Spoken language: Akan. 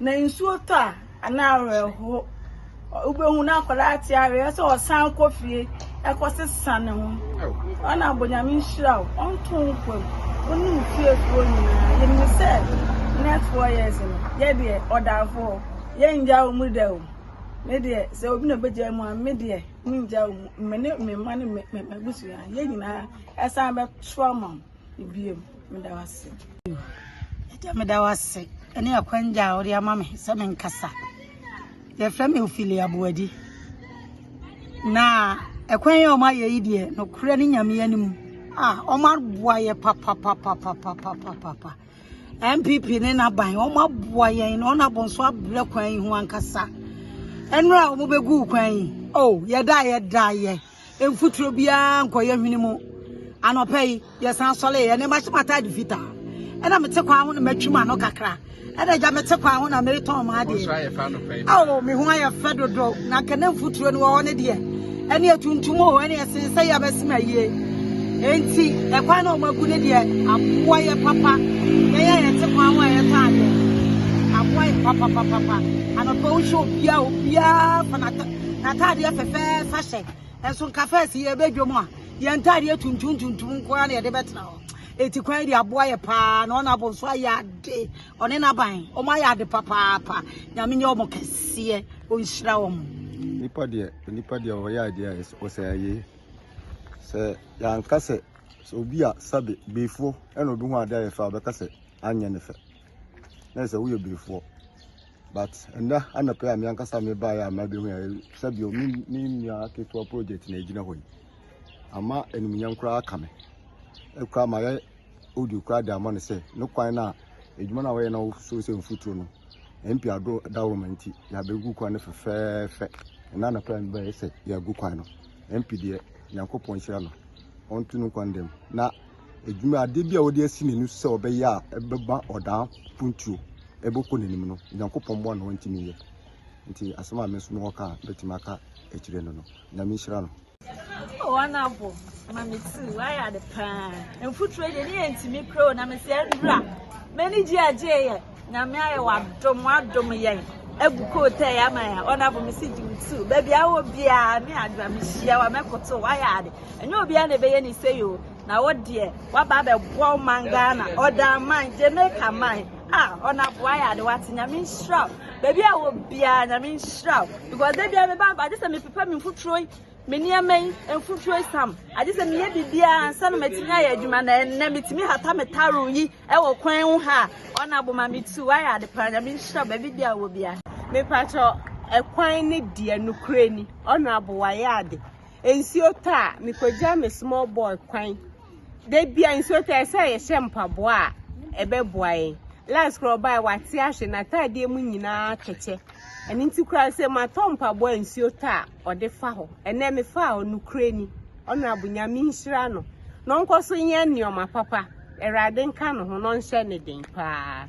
Na nsuo tɔ a, ɛne awerɛhoɔ. Wobɛhu na akwadaa te aweɛ sɛ ɔsan kɔ fie ɛkɔsesa ne ho. Ɔna abɔ nyame nhyira o, ɔnto wo nkwa mu. Wo ne wo fiefoɔ nyinaa. Yɛnim sɛ next four years no, yɛ deɛ ɔdafoɔ, yɛngya wo mu da o. Me deɛ, sɛ obi na ɔbɛgya mu a, me deɛ mengya wo mu. Me ne me mma ne m'abusua, yɛn nyinaa ɛsan bɛto ama wo. Ebiem, meda wo ase. Agya, meda wo ase ne akwangya a wode ama me sɛ menkasa. Yɛfrɛ me Ophelia Aboadi. Na ɛkwan a wɔma yɛ yi deɛ, nokorɛ ne nyame anim a wɔma aboa yɛ papapapapapapapa. MPP ne n'aban, wɔma aboa yɛn na wɔn abɔnso abrɛ kwan yi ho ankasa. Ɛnura a wɔbɛgu kwan yi, oh, yɛda yɛda yɛ. mfuturo biara nkɔyɛ hwene mu anɔpa yi yɛsan sɔre yɛ ne ma hyɛ m'ataade fitaa ɛna mete kwan ho na matwi m'ano kakra ɛna agya mete kwan ho na meretɔn m'adeɛ ao me ho ayɛ fɛ dodo na kɛnɛ mfuturo no wɔ hɔ ne deɛ ɛne atuntum wɔ hɔ ɛne ɛsen sɛ yɛ abɛsi ma yie enti ɛkwan na ɔmagu ne deɛ aboa yɛ papa yɛyɛ yɛte kwan ho a yɛtɔ adeɛ aboa yɛ papapapapa anɔpa wohyɛ obiara obiara fanata Ataadeɛ fɛfɛɛfa hyɛ. Ɛso nka fɛs yɛ bɛ dwom a yɛn ntaadeɛ tuntum tuntum nko ara na yɛde bɛtena hɔ. Eti kwan de aboa yɛ paa na ɔna abonso ayɛ ade. Ɔne n'aban ɔmo ayɛ ade papaapa. Nyame nyɛ ɔmo kɛseɛ ɔnhyira ɔmo. Nipa deɛ onipa deɛ ɔyɛ adeɛ a ɔsɛ ayie sɛ yɛanka sɛ sɛ obi a sɛbe beefoɔ ɛna obi ho adeɛ ayɛ fɛ a ɔbɛka sɛ anyɛ ne fɛ na sɛ woyɛ beefoɔ But ɛnɛ anɔpɛ a me ankasa me baeɛ a mabɛhu a sɛdeɛ me me nua ketewa project na ɛgyina hɔ yi ama animuonyam koraa aka me ɛkora mayɛ audio koraa de ama no sɛ ne kwan no a adwuma no a wɔyɛ na wɔsoro sɛ mfuturo no mp ado dawroma nti yɛabɛgu kwan no fɛfɛɛfɛ ɛna anɔpɛ a me baeɛ sɛ yɛagu kwan no mp deɛ nyankopɔn nhyira no ɔnto no kwan dam na adwuma, adeɛ bi a ɔde asi n'ani so sɛ ɔbɛyɛ a ɛbɛba ɔdaa mpuntuo ɛbɛkɔ n'anim no nyankopɔn mmoa na ɔntumi yɛ nti asɛm a me nso mewɔ ka bɛtumi aka akyire no no nyame nhyira no wɔn abo ma me ti wayɛ ade paa mfuturo deɛ ne yɛ ntumi kuro na mesɛ nwura m'ani gye agye yɛ Nyame ayɛ wadom wadom yɛn agu kootai ama yɛn ɔnafo me si gye tu baabi a wɔ biara me adwa me hyia wa mɛkoto wayɛ ade ɛnyɛ obiara na ɛbɛyɛ ne sɛ yo na wo deɛ waba abɛboa wo man Ghana ɔdan man Jamaica man a ɔnafo wayɛ ade wate nyame nhyira baabi a wɔ biara nyame nhyira because da biara me ba agye sɛ me pepa me mfuturo Me nneɛma yi, mfuturo esiam. Agye sɛ meyɛ biribiara ansa na matumi ayɛ adwuma na ɛnnɛ metumi hata me taro yi wɔ kwan ho ha a ɔna boma me tu wayɛ ade paa nyame nhyira baabi bi a wɔ bia. Mepakyɛ ɛkwan ne deɛ nokorɛ ni ɔna abo wayɛ ade nsuo tɔ a mekɔgya me small boy kwan da bia nsuo tɔ ɛsɛ a yɛhyɛ mpaboa a ɛbɛboa yɛn last korɔ ɔbae wate ahwe n'ataadeɛ mu nyinaa kɛkyɛ ɛno nti koraa sɛ matɔ mpaboa nsuo tɔ a ɔde fa hɔ ɛnɛ me fa a ɔnukure ni ɔnrabo nyame nhyira no na ɔnkɔ so nyɛ nneɛma papa awurade nka ne ho na ɔnhyɛ ne den paa.